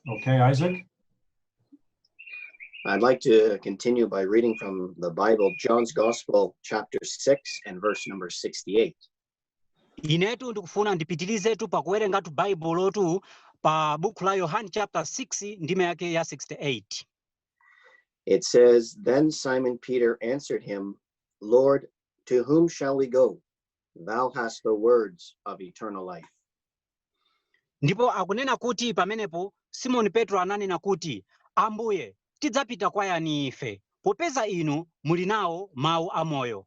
Okay, Isaac? I'd like to continue by reading from the Bible, John's Gospel, chapter 6 and verse number 68. inetu ndikufuna ndipitirizetu pakuwerengatu baibulotu pa buku la yohane chapter 6 ndime yake ya 68 It says, Then Simon Peter answered him, Lord, to whom shall we go? Thou hast the words of eternal life. ndipo akunena kuti pamenepo simoni petro ananena kuti ambuye tidzapita kwa yani ife popeza inu muli nawo mawu amoyo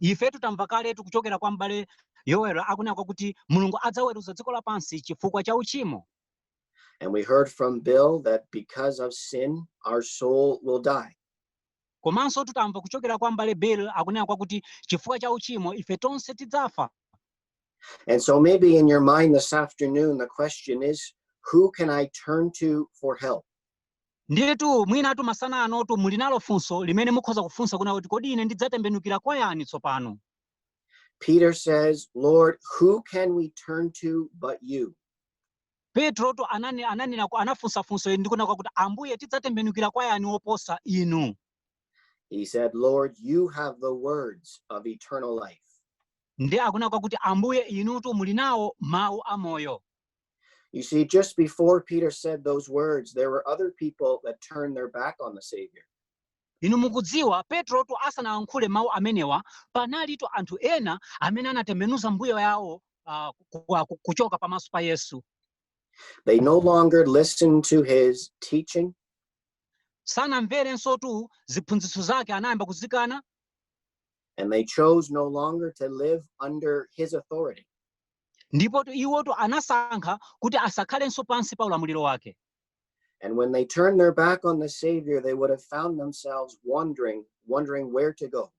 ifetu tamvatu kaletu kuchokera kwa m'bale yoweli akunena kwakuti mulungu adzaweruza dziko lapansi chifukwa cha uchimo And we heard from Bill that because of sin, our soul will die. komanso tutamva kuchokera kwa m'bale bill akunena kwakuti chifukwa cha uchimo ife tonse tidzafa And so maybe in your mind this afternoon, the question is, who can I turn to for help? Ndiyetu mwinatu masana anotu muli nalo funso limene mukhoza kufunsa kunena kuti kodi ine ndidzatembenukira kwa yani tsopano? Peter says, Lord, who can we turn to but you? Petrotu ananena ananena anafunsa funso ili ndikunena kwakuti ambuye tidzatembenukira kwa yani woposa inu? He said, Lord, you have the words of eternal life. Ndiye akunena kwakuti ambuye inutu muli nawo mawu a moyo. You see, just before Peter said those words, there were other people that turned their back on the Savior. inu mukudziwa petrotu asanalankhule mawu amenewa panalitu anthu ena amene anatembenuza mbuyo yawo ah, ku- ku- ku- kuchoka pamaso pa yesu They no longer listened to his teaching, sanamverensotu ziphunzitso zake anayamba kuzikana and they chose no longer to live under his authority. Ndipotu iwotu anasankha kuti asakhalenso pansi pa ulamuliro wake. And when they turned their back on the Savior, they would have found themselves wondering, wondering where to go.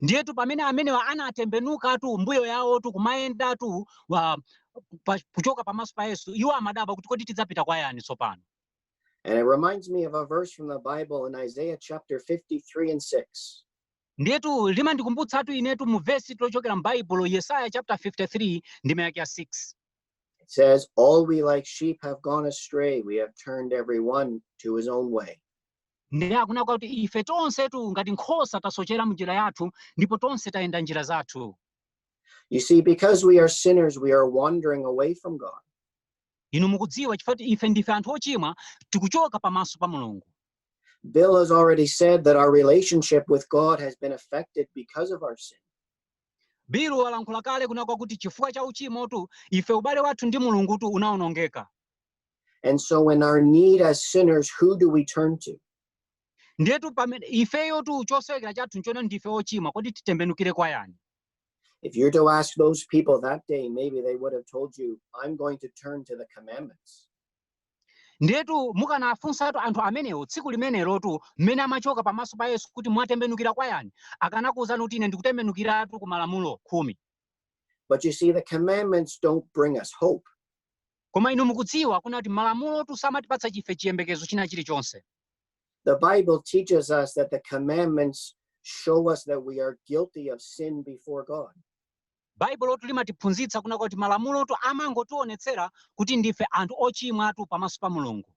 Ndiyetu pamene amenewa anatembenukatu mbuyo yawotu kumayendatu wa- pa- kuchoka pamaso pa Yesu, iwo amadabwa kuti kodi tidzapita kwa yani tsopano? And it reminds me of a verse from the Bible in Isaiah chapter 53 and 6. Ndiyetu limandikumbutsatu inetu mu vesitu lochokera m'Baibulo Yesaya chapter 53 ndime yake ya 6. It says, All we like sheep have gone astray, we have turned every one to his own way. Ndiye akunena kwakuti ife tonsetu ngati nkhosa tasochera m'njira yathu ndipo tonse tayenda njira zathu. You see, because we are sinners, we are wandering away from God. Inu mukudziwa chifukwa kuti ife ndife anthu ochimwa tikuchoka pamaso pa Mulungu. Bill has already said that our relationship with God has been affected because of our sin. bill walankhula kale kunena kwakuti chifukwa cha uchimotu ife ubale wathu ndi mulungutu unaonongeka And so, in our need as sinners, who do we turn to? ndiyetu pamene ifeyotu chosowekera chathu nchonena ndife ochimwa kodi titembenukire kwa yani If you're to ask those people that day, maybe they would have told you, I'm going to turn to the commandments. ndiyetu mukanafunsatu anthu amenewo tsiku limenelotu mmene amachoka pamaso pa yesu kuti mwatembenukira kwa yani akanakuwuzani kuti ine ndikutembenukiratu ku malamulo khumi But you see, the commandments don't bring us hope. koma inu mukudziwa kunena kuti malamulotu samatipatsa ife chiyembekezo china chilichonse The Bible teaches us that the commandments show us that we are guilty of sin before God. Baibulotu limatiphunzitsa kunena kwakuti malamulotu amangotionetsera kuti ndife anthu ochimwatu pamaso pa Mulungu.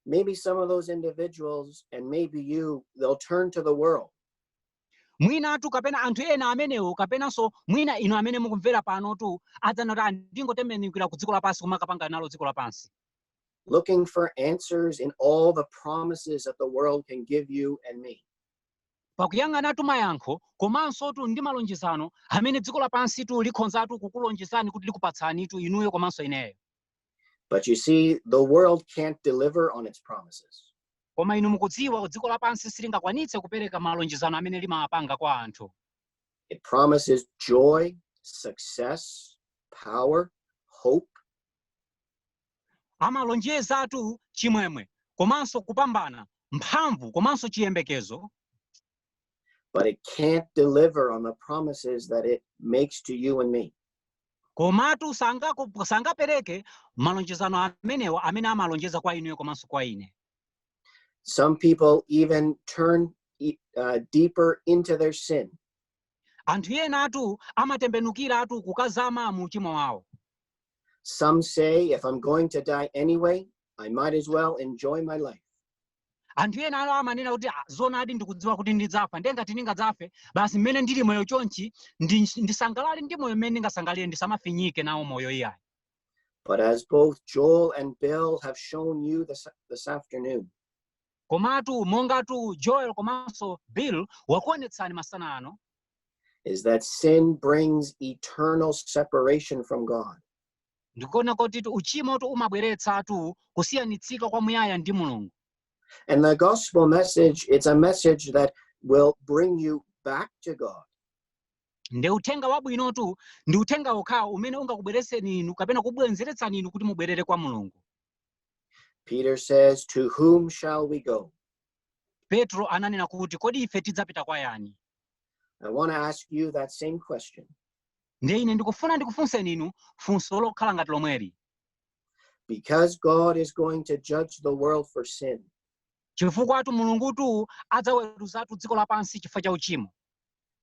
Maybe some of those individuals, and maybe you, they'll turn to the world. mwinatu kapena anthu ena amenewo kapenanso mwina inu amene mukumvera panotu adzanena kuti "Ah, ndingotembenukira ku dziko lapansi kumakapanga nalo dziko lapansi looking for answers in all the promises that the world can give you and me. Pakuyang'anatu mayankho komansotu ndi malonjezano amene dziko lapansitu likhonzatu kukulonjezani kuti likupatsanitu inuyo komanso ineyo. But you see, the world can't deliver on its promises. Koma inu mukudziwa, dziko lapansi silingakwanitse kupereka malonjezano amene limawapanga kwa anthu. It promises joy, success, power, hope. amalonjezatu chimwemwe komanso kupambana mphamvu komanso chiyembekezo but it can't deliver on the promises that it makes to you and me komatu sangapereke malonjezano amenewa amene amalonjeza kwa inuyo komanso kwa ine some people even turn uh, deeper into their sin anthu enatu amatembenukiratu kukazama mu uchimo wawo Some say if I'm going to die anyway, I might as well enjoy my life. anthu ena ano amanena kuti "Ah, zoonadi ndikudziwa kuti ndidzafa ndiye ngati ndingadzafe basi mmene ndili moyo chonchi ndi- ndisangalale ndi moyo mmene ndingasangalire ndisamafinyike nawo moyo iyayi But as both Joel and Bill have shown you this, this afternoon, komatu mongatu joel komanso bill wakuonetsani masana ano is that sin brings eternal separation from God. ndikuona kuti uchimotu umabweretsatu kusiyanitsika kwa muyaya ndi mulungu And the gospel message, it's a message that will bring you back to God. ndi uthenga wabwinotu ndi uthenga wokhawo umene ungakubweretseni inu kapena kubwenzeretsani inu kuti mubwerere kwa mulungu Peter says, To whom shall we go? Petro ananena kuti kodi ife tidzapita kwa yani? I want to ask you that same question. Ndiye ine ndikufuna ndikufunseni inu funso lokhala ngati lomweli. Because God is going to judge the world for sin. Chifukwatu Mulungutu adzaweruzatu dziko lapansi chifukwa cha uchimo.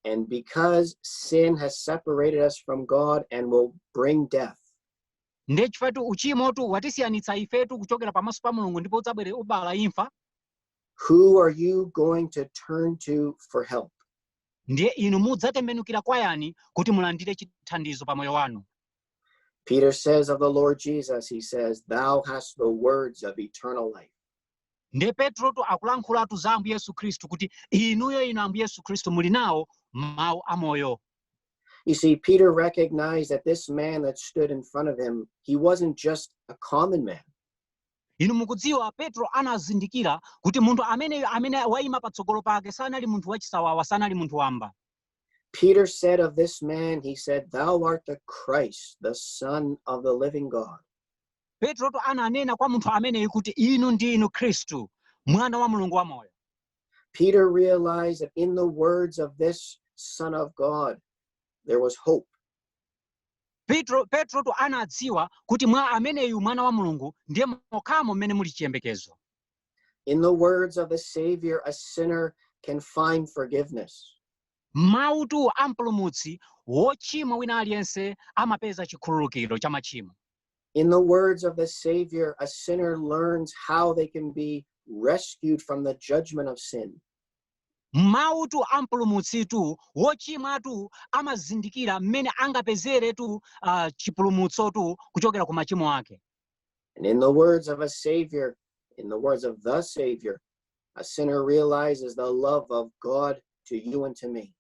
And because sin has separated us from God and will bring death. ndiye chifukwatu uchimotu watisiyanitsa ifetu kuchokera pamaso pa mulungu ndipo udzabwere kubala imfa who are you going to turn to for help? ndiye inu mudzatembenukira kwa yani kuti mulandire chithandizo pa moyo wanu Peter says of the Lord Jesus, he says, Thou hast the words of eternal life. ndiye petrotu akulankhulatu za ambuye yesu khristu kuti inuyo inu ambuye yesu khristu muli nawo mawu amoyo You see, Peter recognized that this man that stood in front of him, he wasn't just a common man. inu mukudziwa petro anazindikira kuti munthu ameneyo amene waima patsogolo pake sanali munthu wachisawawa sanali munthu wamba Peter said of this man, he said, Thou art the Christ, the Son of the living God. petrotu ananena kwa munthu ameneyu kuti inu ndi inu khristu mwana wa mulungu wamoyo Peter realized that in the words of this Son of God, there was hope. petro petrotu anadziwa kuti mwa ameneyu mwana wa mulungu ndiye mokhamo mmene muli chiyembekezo In the words of a Savior, a sinner can find forgiveness. m'mautu a mpulumutsi wochimwa wina aliyense amapeza chikhululukiro cha machimo In the words of the Savior, a sinner learns how they can be rescued from the judgment of sin. m'mautu a mpulumutsitu wochimwatu amazindikira mmene angapezeretu uh, chipulumutsotu kuchokera ku machimo ake And in the words of a Savior, in the words of the Savior, a sinner realizes the love of God to you and to me.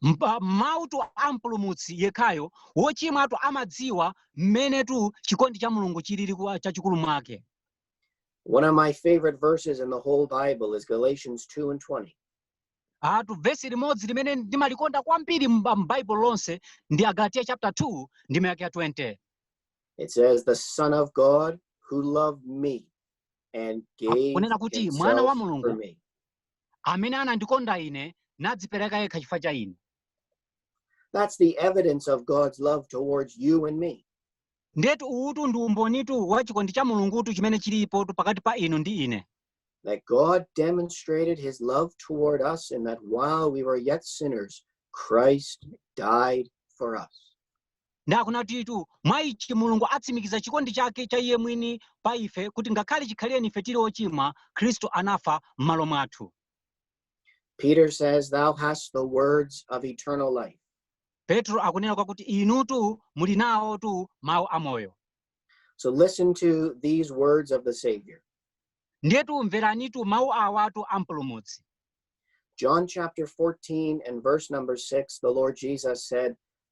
Mpa- m'mautu a mpulumutsi yekhayo wochimwatu amadziwa mmenetu chikondi cha mulungu chilili kwa- chachikulu mwake One of my favorite verses in the whole Bible is Galatians 2 and 20. atu vesi limodzi limene ndimalikonda kwambiri m'ba- m'baibulo lonse ndi agalatiya chapter 2 ndime yake ya 20 It says the Son of God who loved me and gave himself for me. kunena kuti mwana wa mulungu amene anandikonda ine nadzipereka yekha chifukwa cha ine That's the evidence of God's love towards you and me. ndetu uwutu ndi umbonitu wa chikondi cha mulungutu chimene chilipotu pakati pa inu ndi ine That God demonstrated his love toward us in that while we were yet sinners, Christ died for us. Nde akunenatu, mwa ichi Mulungu atsimikiza chikondi chake cha Iye mwini pa ife, kuti ngakhale chikhalire ife tiri ochimwa, Khristu anafa m'malo mwathu. Peter says, Thou hast the words of eternal life. Petro akunena kwakuti inutu muli nawotu mawu a moyo. So listen to these words of the Savior. Ndiyetu mveranitu mawu awatu a Mpulumutsi. John chapter 14 and verse number 6, the Lord Jesus said,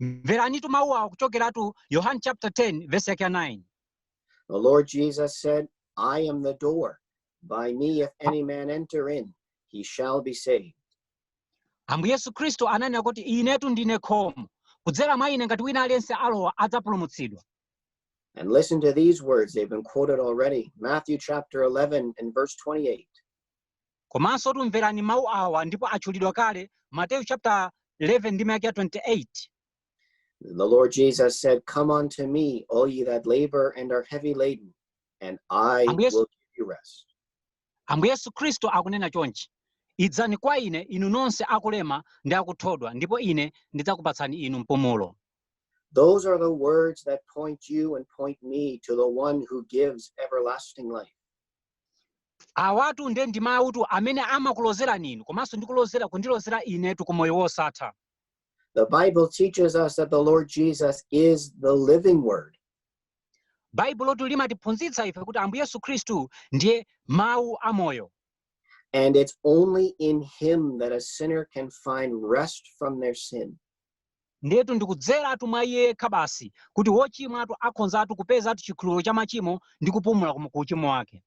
mveranitu mawu awa kuchokeratu yohane chapter 10 verse yake ya 9 The Lord Jesus said, I am the door. By me, if any man enter in, he shall be saved. ambuye yesu khristu ananena kuti inetu ndine khomo kudzera mwa ine ngati wina aliyense alowa adzapulumutsidwa And listen to these words. They've been quoted already. Matthew chapter 11 and verse 28. Komansotu mverani mawu awa ndipo atchulidwa kale, Mateyu chaputala 11 ndime yake ya 28. The Lord Jesus said, Come unto me, all ye that labor and are heavy laden, and I will give you rest. Ambuye Yesu Khristu akunena chonchi, idzani kwa ine inu nonse akulema ndi akuthodwa, ndipo ine ndidzakupatsani inu mpumulo. Those are the words that point you and point me to the one who gives everlasting life. Awatu nde ndi mawutu amene amakulozerani inu komanso ndi kulozera kundilozera inetu ku moyo wosatha. The Bible teaches us that the Lord Jesus is the living word. Baibulotu limatiphunzitsa ife kuti Ambuye Yesu Khristu ndiye mawu a moyo. And it's only in him that a sinner can find rest from their sin. Ndetu ndikudzeratu mwa iye yekha basi kuti wochimwatu akhonzatu kupezatu chikhululuko cha machimo ndi kupumula ku ku uchimo wake.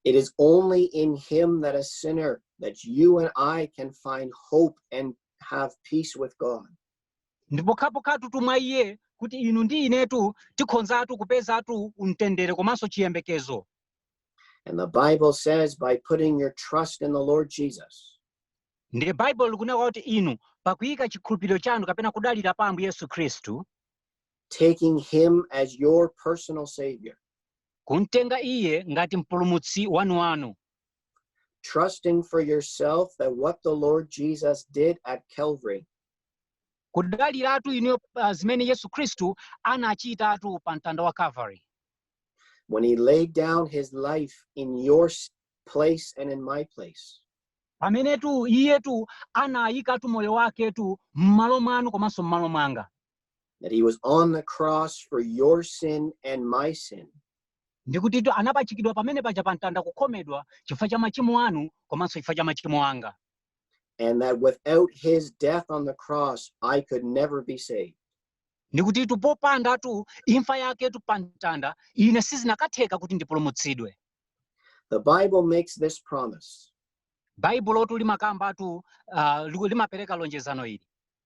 It is only in Him that a sinner, that you and I can find hope and have peace with God. ndi pokhapokhatu mwa iye kuti inu ndi inetu tikhonzatu kupezatu mtendere komanso chiyembekezo And the Bible says by putting your trust in the Lord Jesus, ndiye baibulo likunena kuti inu pakuyika chikhulupiriro chanu kapena kudalira pa ambuye yesu khristu taking him as your personal Savior, kumtenga iye ngati mpulumutsi wanuwanu trusting for yourself that what the Lord Jesus did at Calvary kudaliratu inuyo pa zimene yesu khristu anachitatu pa mtanda wa calvary when he laid down his life in your s- place and in my place. pamenetu iyetu anayikatu moyo waketu m'malo mwanu komanso m'malo mwanga That he was on the cross for your sin and my sin. ndikutitu anapachikidwa pamene paja pa mtanda kukhomedwa chifukwa cha machimo anu komanso chifukwa cha machimo anga and that without his death on the cross i could never be saved ndikutitu popandatu imfa yaketu pa mtanda ine sizinakatheka kuti ndipulumutsidwe the bible makes this promise baibulotu limakambatu uh, limapereka lonjezano ili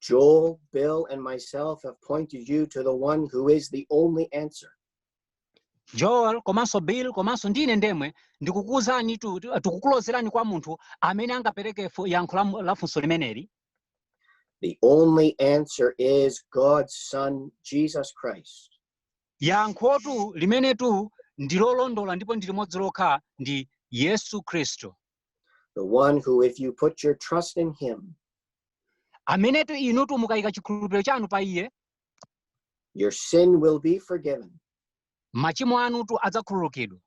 Joel, Bill, and myself have pointed you to the one who is the only answer. joel komanso bill komanso ndi ine ndemwe ndikukuuzani tu- tu- tikukulozerani kwa munthu amene angapereke fu- yankho la mu- la funso limeneli The only answer is God's Son, Jesus Christ. yankhotu limenetu ndilolondola ndipo ndi limodzi lokha ndi yesu khristu the one who, if you put your trust in him, amenetu inutu mukayika chikhulupiriro chanu pa iye your sin will be forgiven. machimo anutu adzakhululukidwa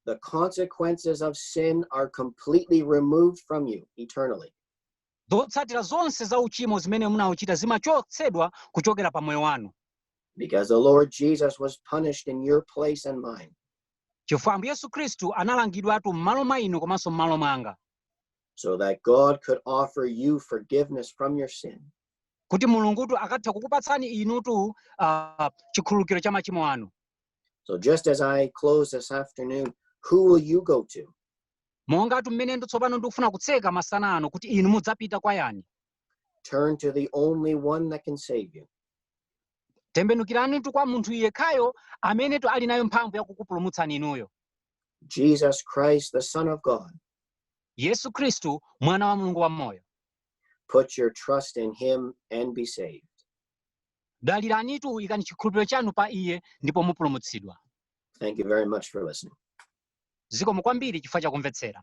The consequences of sin are completely removed from you eternally. zotsatira zonse za uchimo zimene munauchita zimachotsedwa kuchokera pa moyo wanu Because the Lord Jesus was punished in your place and mine. chifukwa Ambuye Yesu Khristu analangidwatu m'malo mwa inu komanso m'malo mwanga, so that God could offer you forgiveness from your sin kuti Mulungutu akatha kukupatsani inutu ah, chikhululukiro cha machimo anu. So, just as I close this afternoon, who will you go to? Mongatu mmenetu tsopano ndikufuna kutseka masana ano kuti inu mudzapita kwa yani? Turn to the only one that can save you. tembenukiranitu kwa munthu yekhayo amenetu ali nayo mphamvu yakukupulumutsani inuyo Jesus Christ, the Son of God. yesu khristu mwana wa mulungu wamoyo Put your trust in him and be saved. daliranitu ikani chikhulupiriro chanu pa iye ndipo mupulumutsidwa Thank you very much for listening. zikomo kwambiri chifukwa chakumvetsera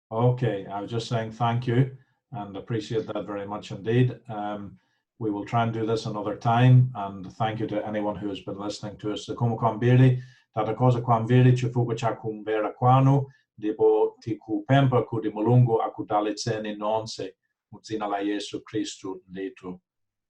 Okay, I was just saying thank you and appreciate that very much indeed. Um, we will try and do this another time and thank you to anyone who has been listening to us. Zikomo kwambiri, tathokoza kwambiri, chifukwa cha kumvera kwanu, ndipo tikupempha kuti Mulungu akudalitseni nonse, mudzina la Yesu Khristu ndithu.